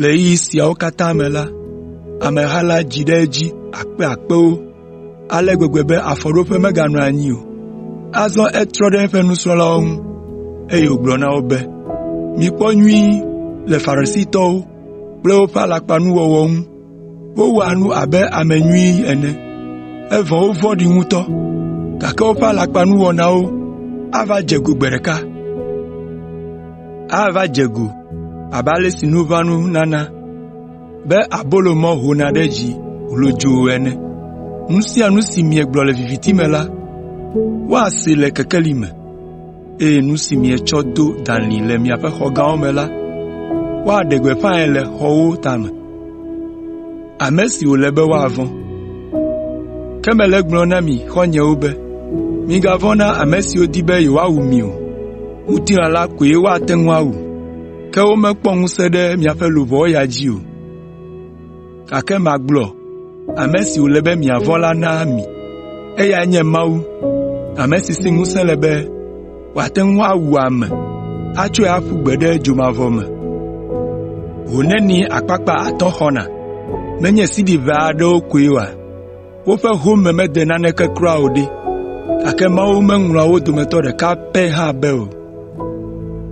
Le ɣeyiɣi siawo katã me la, ameha la dzi ɖe edzi akpeakpewo ale gbegbe be afɔɖoƒe meganɔ anyi o. Azɔ etrɔ ɖe eƒe nusrɔ̃lawo ŋu, eye wògblɔ na wo be, “Mikpɔ nyuie le Farisitɔwo kple woƒe alakpanuwɔwɔ ŋu.” Wowɔa nu abe ame nyui ene, evɔ wovɔ̃ɖi ŋutɔ, gake woƒe alakpanuwɔnawo ava dze go gbe ɖeka. Ava dze go abe ale si nuʋanu nana be abolo mɔ hona ɖe dzi hlodzoo ene. Nu sia nu si miegblɔ le viviti me la, woasee le kekeli me. eye nu si mietsɔ do dalĩ le miaƒe xɔ gãwo me la, woaɖe gbeƒãe le xɔwo tame. Ame si wòle be woavɔ̃. Ke mele egblɔm na mi xɔ̃nyewo be, migavɔ̃ na ame siwo di be yewoawu mi o. Ŋutilã la koe woate ŋu awu, ke womekpɔ ŋusẽ ɖe miaƒe luʋɔ ya dzi o. Gake magblɔ ame si wòle be miavɔ̃ la na mi. Eyae nye Mawu, ame si si ŋusẽ le be wòate ŋu awu ame atsɔe aƒu gbe ɖe dzomavɔ me. Ho nenie akpakpa atɔ̃ xɔna? Menye sidi ʋɛ aɖewo koe oa? woƒe home mede naneke kura o ɖe, gake Mawu meŋlɔa wo dometɔ ɖeka pɛ hã be o.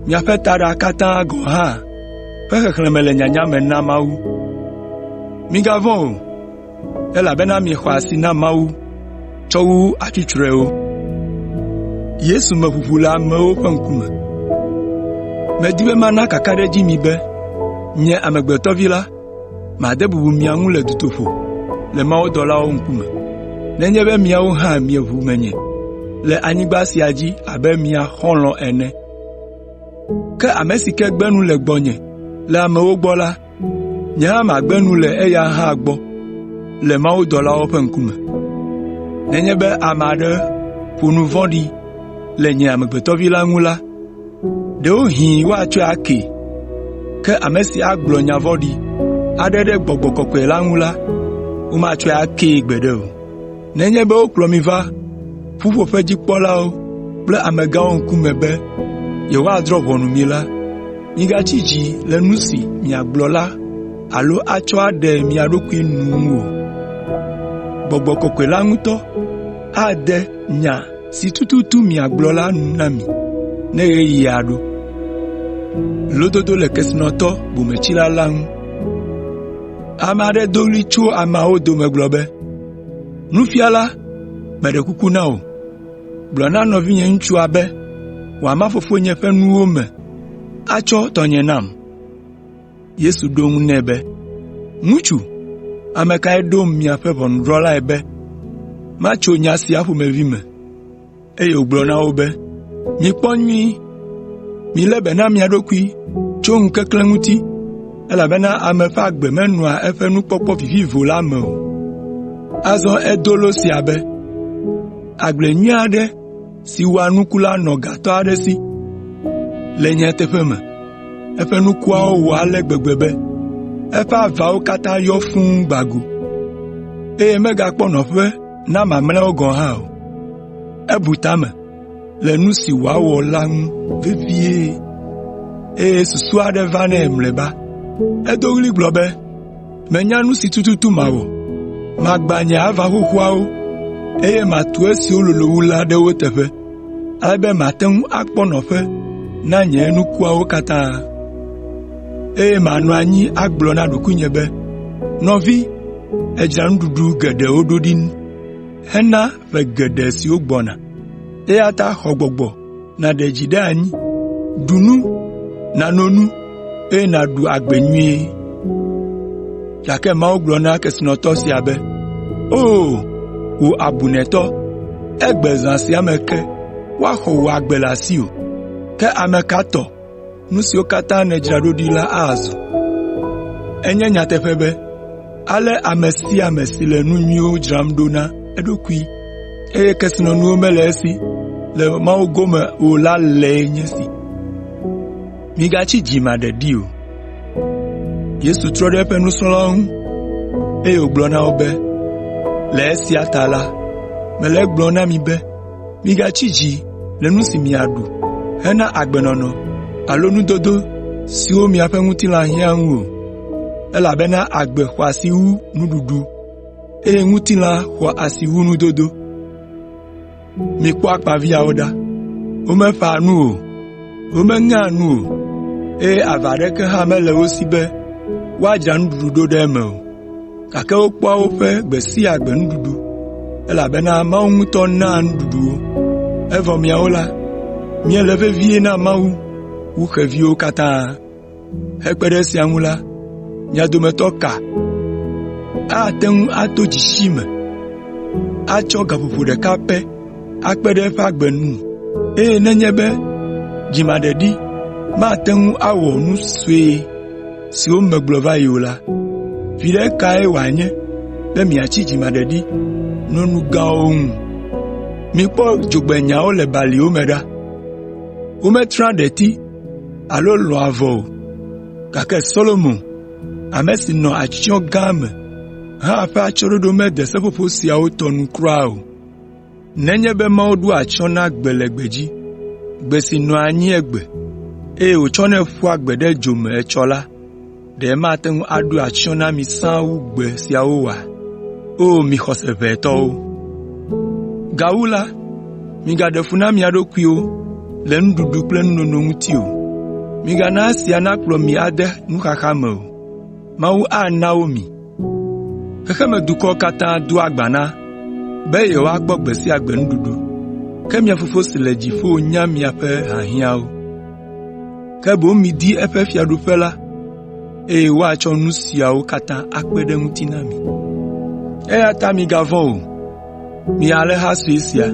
Miaƒe taɖa katã gɔ̃ hã ƒe xexlẽme le nyanya me na Mawu. Migavɔ̃ o, elabena miexɔ asi na Mawu tsɔ wu atsutsrɔewo.” “Medi be mana kakaɖedzi mi be, nye Amegbetɔ Vi la, Made bubu mia ŋu le dutoƒo le mawudɔlawo ŋkume, nenye be miawo hã mieʋu menye le anyigba sia dzi abe mia xɔlɔ̃ ene. Ke ame si ke gbe nu le gbɔnye le amewo gbɔ la, nye hã magbe nu le eya hã gbɔ le mawudɔlawo ƒe ŋkume. Nenye be ame aɖe ƒo nu vɔ̃ɖi le nye Amegbetɔ Vi la ŋu la, Ɖewohĩ woatsɔe akee, ke ame si agblɔ nya vɔ̃ɖi aɖe ɖe Gbɔgbɔ Kɔkɔe la ŋu la, womatsɔe akee gbeɖe o. Nenye be wokplɔ mi va ƒuƒoƒedzikpɔlawo kple amegãwo ŋkume be yewoadrɔ̃ ʋɔnu mi la, migatsi dzi le nu si miagblɔ la alo atsɔ aɖe mia ɖokui nu ŋu o. Gbɔgbɔ Kɔkɔe la ŋutɔ ade nya si tututu miagblɔ la nu na mi ne ɣeyiɣia ɖo. Lododo le kesinɔtɔ bometsila la ŋu.” Ame aɖe do ɣli tso ameawo dome gblɔ be, “Nufiala, meɖe kuku na wò, gblɔ na nɔvinyeŋutsua be wòama fofonye ƒe nuwo me atsɔ tɔnye nam.” Yesu ɖo eŋu nɛ be, “Ŋutsu, ame kae ɖom miaƒe ʋɔnudrɔ̃lae be matso nya sia ƒomevi me?” Eye wògblɔ na wo be, “Mikpɔ nyuie, milé be na mia ɖokui tso ŋukeklẽ ŋuti, elabena ame ƒe agbe menɔa eƒe nukpɔkpɔ vivivo la me o.” Azɔ edo lo sia be, “Agble nyui aɖe si wɔa nuku la nɔ gatɔ aɖe si. Le nyateƒe me, eƒe nukuawo wɔ ale gbegbe be eƒe avawo katã yɔ fũu gbã go, eye megakpɔ nɔƒe na mamlɛawo gɔ̃ hã o. Ebu ta me le nu si wòawɔ la ŋu vevie, eye susu aɖe va nɛ mlɔeba. Edo ɣli gblɔ be, Menya nu si tututu mawɔ. Magbã nye ava xoxoawo, eye matu esiwo lolo wu la ɖe wo teƒe, ale be mate ŋu akpɔ nɔƒe na nye nukuawo katã, eye manɔ anyi agblɔ na ɖokuinye be, ‘Nɔvi, èdzra nuɖuɖu geɖewo ɖo ɖi hena ƒe geɖe siwo gbɔna, eya ta xɔ gbɔgbɔ.’ nàɖe dzi ɖe anyi, ɖu nu, nano nu, eye nàɖu agbe nyuie.” Gake Mawu gblɔ na kesinɔtɔ sia be, “O, wò abunɛtɔ, egbe zã sia me ke woaxɔ wò agbe le asiwò. Ke ame ka tɔ nu siwo katã nèdzra ɖo ɖi la azɔ. Enye nyateƒe be, ale ame sia ame si le nu nyuiwo dzram ɖo na eɖokui, eye kesinɔnuwo mele esi le Mawu gome o la lae nye esi.” Yesu trɔ ɖe eƒe nusrɔ̃lawo ŋu, eye wògblɔ na wo be, “Le esia ta la, mele egblɔm na mi be, “Migatsi dzi le nu si miaɖu hena agbenɔnɔ alo nudodo siwo miaƒe ŋutilã hiã ŋu o, elabena agbe xɔ asi wu nuɖuɖu, eye ŋutilã xɔ asi wu nudodo. Mikpɔ akpaviãwo ɖa. Womeƒãa nu o, womeŋea nu o, eye ava aɖeke hã mele wo si be woadzra nuɖuɖu ɖo ɖe eme o. gake wokpɔa woƒe gbe sia gbe nuɖuɖu, elabena Mawu ŋutɔ naa nuɖuɖu wo. Evɔ miawo la, miele vevie na Mawu wu xeviwo katã. Hekpe ɖe esia ŋu la, mia dometɔ ka ate ŋu ato dzesi me atsɔ gaƒoƒo ɖeka pɛ akpe ɖe eƒe agbe ŋu? Eye nenye be dzimaɖeɖi mate ŋu awɔ nu sue siwo megblɔ va yi o la, viɖe kae wòanye be miatsi dzimaɖeɖi no nu gãwo ŋu? Mikpɔ dzogbenyawo le baliwo me ɖa. Wometrea ɖeti alo lɔ̃a avɔ o, gake Solomo, ame si nɔ atsyɔ̃ gã me hã ƒe atsyɔ̃ɖoɖo mede seƒoƒo siawo tɔ nu kura o. Nenye be Mawu ɖoa atsyɔ̃ na gbe le gbedzi, gbe si nɔa anyi egbe, eye wòtsɔnɛ ƒua gbe ɖe dzo me etsɔ la, ɖe mate ŋu aɖo atsyɔ̃ na mi sãa wu gbe siawo oa? O mi xɔse ʋɛ tɔwo! “Gawu la, migaɖe fu na mia ɖokuiwo le nuɖuɖu kple nunono ŋuti o. Migana esia nakplɔ mi ade nuxaxa me o. Mawu ana wo mi. “Xexemedukɔwo katã doa gbe na be yewoakpɔ gbe sia gbe nuɖuɖu, ke mia Fofo si le dziƒo nya miaƒe hiahiãwo. Ke boŋ midi eƒe Fiaɖuƒe la, eye woatsɔ nu siawo katã akpe ɖe eŋuti na mi. “Eyata migavɔ̃ o, Mi alẽha sue sia!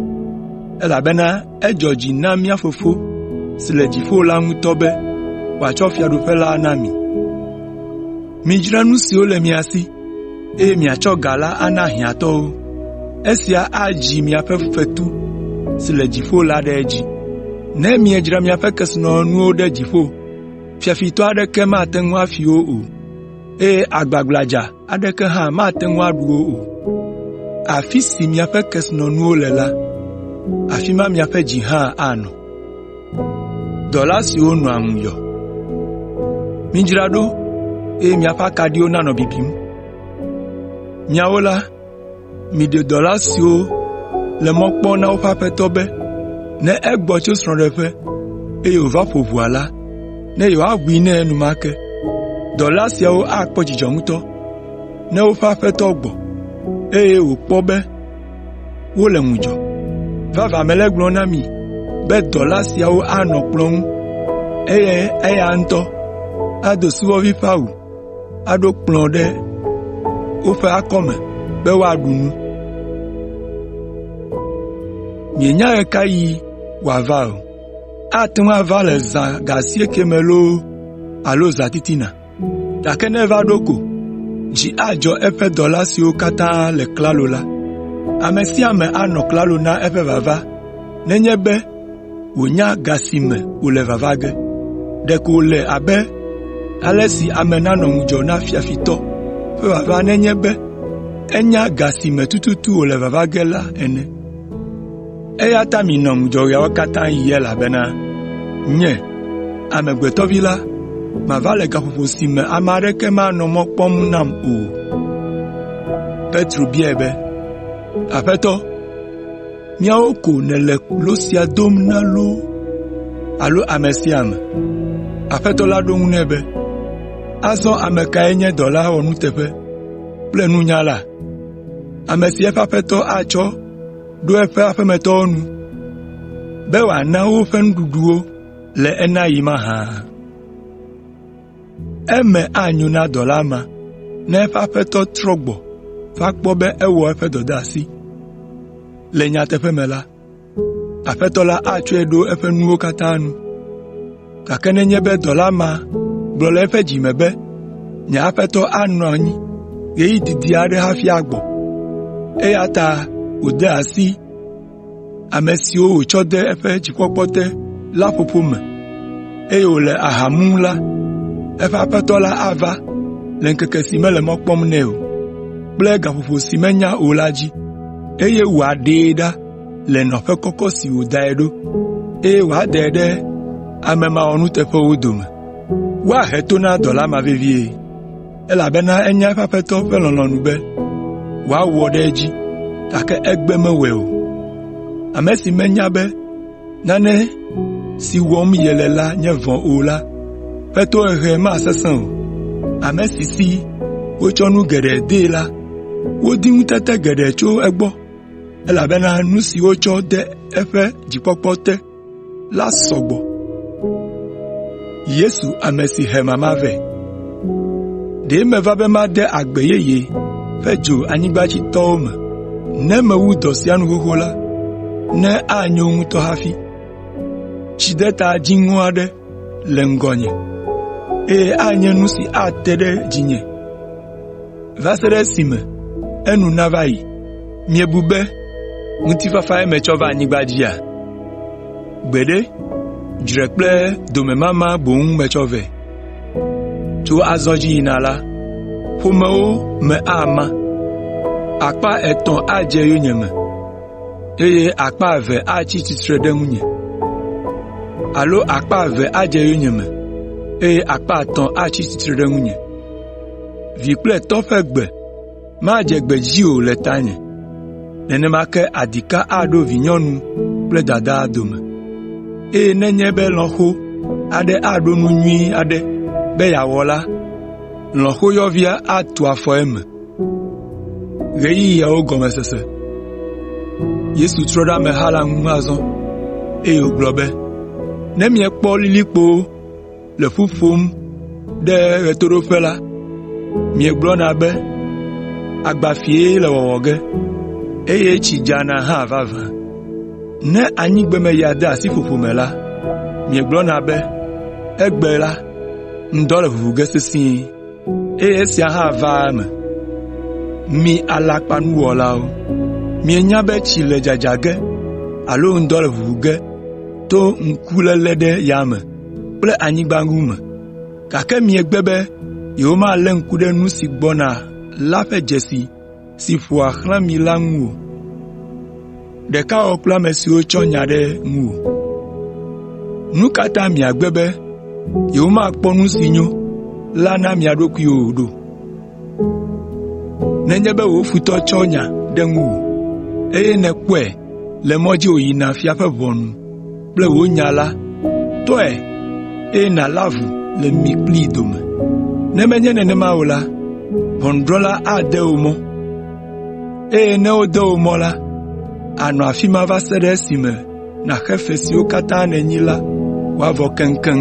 Elabena edzɔ dzi na mía Fofo si le dziƒo la ŋutɔ be wòatsɔ fiaɖuƒe la na mi. Midzra nu siwo le mia si, eye miatsɔ ga la ana hiãtɔwo. Esia adzi miaƒe fetu si le dziƒo la ɖe edzi. Ne miedzra miaƒe kesinɔnuwo ɖe dziƒo, fiafitɔ aɖeke mate ŋu afi wo o, eye agbagbladza aɖeke hã mate ŋu aɖu wo o. Afi si miaƒe kesinɔnuwo le la, afi ma miaƒe dzi hã anɔ. “Midzra ɖo, eye miaƒe akaɖiwo nanɔ bibim. Miɖe dɔla siwo le mɔ kpɔm na woƒe aƒetɔ be ne egbɔ tso srɔ̃ɖeƒe, eye wòva ƒo ʋɔa la, ne yewoaʋui nɛ enumake. Dɔla siawo akpɔ dzidzɔ ŋutɔ ne woƒe aƒetɔ gbɔ, eye wòakpɔ be wole ŋudzɔ. Vavã mele egblɔm na mi be dɔla siawo anɔ kplɔ̃ ŋu, eye eya ŋutɔ ado subɔvi ƒe awu. aɖo kplɔ̃ ɖe woƒe akɔme be woaɖu nu. Mienya ɣe ka ɣi wòava o. Ate ŋu ava le zã ga asiekɛ me loo alo zãtitina, gake ne eva ɖo ko, dzi adzɔ eƒe dɔla siwo katã le klalo la. Ame sia ame anɔ klalo na eƒe vava nenye be wònya ga si me wòle vava ge. Ɖeko wòle abe ale si ame nanɔ ŋudzɔ na fiafitɔ ƒe vava nenye be enya ga si me tututu wòle vava ge la ene. Eya ta minɔ ŋudzɔ ɣeawo katã ɣi elabena Nye, Amegbetɔ Vi la, mava le gaƒoƒo si me ame aɖeke manɔ mɔ kpɔm nam o.” “Míawo ko nèle lo sia dom na loo alo ame sia ame?” Aƒetɔ la ɖo eŋu nɛ be, “Azɔ ame kae nye dɔla wɔnuteƒe kple nunyala, ame si eƒe aƒetɔ atsɔ ɖo eƒe aƒemetɔwo nu be wòana woƒe nuɖuɖu le enaɣi mahã? Eme anyo na dɔla ma ne eƒe aƒetɔ trɔ gbɔ va kpɔ be ewɔ eƒe dɔdeasi. Le nyateƒe me la, aƒetɔ la atsɔe ɖo eƒe nuwo katã nu. Gake nenye be dɔla ma gblɔ le eƒe dzi me be, ‘Nye aƒetɔ anɔ anyi ɣeyiɣi didi aɖe hafi agbɔ,’ eya ta wòde asi ame siwo wòtsɔ de eƒe dzikpɔkpɔ te la ƒoƒo me, eye wòle aha mum la, eƒe aƒetɔ la ava le ŋkeke si mele mɔ kpɔm nɛ o kple gaƒoƒo si menya o la dzi, eye wòaɖee ɖa le nɔƒe kɔkɔ si wòdae ɖo, eye wòadae ɖe ame mawɔnuteƒewo dome. Woahe to na dɔla ma vevie. elabena enya eƒe aƒetɔ ƒe lɔlɔ̃nu be wòawɔ ɖe edzi, gake egbe mewɔe o. Ame si menya be nane si wɔm yele la nye vɔ̃ o la ƒe tohehe masesẽ o. Ame si si wotsɔ nu geɖe dee la, wodi ŋutete geɖe tso egbɔ, elabena nu si wotsɔ de eƒe dzikpɔkpɔ te la sɔ gbɔ. Yesu ame si he mama vɛ. Ɖe meva be made agbe yeye ƒe dzo anyigba dzi tɔwo me. Ne mewu dɔ sia nu xoxo la, ne anyo ŋutɔ hafi. Tsideta dziŋɔ aɖe le ŋgɔnye, eye anye nu si ate ɖe dzinye. va se ɖe esime enu nava yi. Miebu be ŋutifafae metsɔ va anyigba dzia? Gbeɖe, dzre kple domemama boŋ metsɔ vɛ. Tso azɔ dzi yina la, ƒomewo me ama. Akpa etɔ̃ adze yonyeme, eye akpa eve atsi tsitre ɖe ŋunye. Alo akpa eve adze yonyeme, eye akpa etɔ̃ atsi tsitre ɖe ŋunye. Vi kple tɔ ƒe gbe madze gbedzi o le tanye, nenema ke adika aɖo vinyɔnu kple dadaa dome, eye nenye be lɔ̃xo aɖe aɖo nu nyui aɖe be yeawɔ la, lɔ̃xoyɔvia atu afɔ eme.” Yesu trɔ ɖe ameha la ŋu azɔ, eye wògblɔ be, “Ne miekpɔ lilikpowo le ƒu ƒom ɖe ɣetoɖoƒe la, miegblɔna be, ‘Agbafiee le wɔwɔ ge, eye tsi dzana hã vavã.’ Ne anyigbemeya de asi ƒoƒo me la, miegblɔna be, ‘Egbe la, ŋdɔ le ʋuʋu ge sesĩe.’ Eye esia hã vaa eme. Mi alakpanuwɔlawo! Mienya be tsi le dzadza ge alo ŋdɔ le ʋuʋu ge to ŋkuléle ɖe yame. kple anyigba ŋu me, gake miegbe be yewomalé ŋku ɖe nu si gbɔna la ƒe dzesi si ƒoa xlã mi la ŋu o. Ɖeka wɔ kple ame siwo tsɔ nya ɖe ŋuwò. Nu ka ta miagbe be yewomakpɔ nu si nyo la na mia ɖokuiwo o ɖo? nenye be wò futɔ tsɔ nya ɖe ŋuwò, eye nèkpɔe le mɔ dzi wòyina fia ƒe ʋɔnu kple wò nya la, tɔe, eye nàlé avu le mi kplii dome. Ne menye nenema o la, ʋɔnudrɔ̃la ade wò mɔ, eye ne wode wò mɔ la, ànɔ afi ma va se ɖe esime nàxe fe siwo katã nènyi la wòavɔ keŋkeŋ.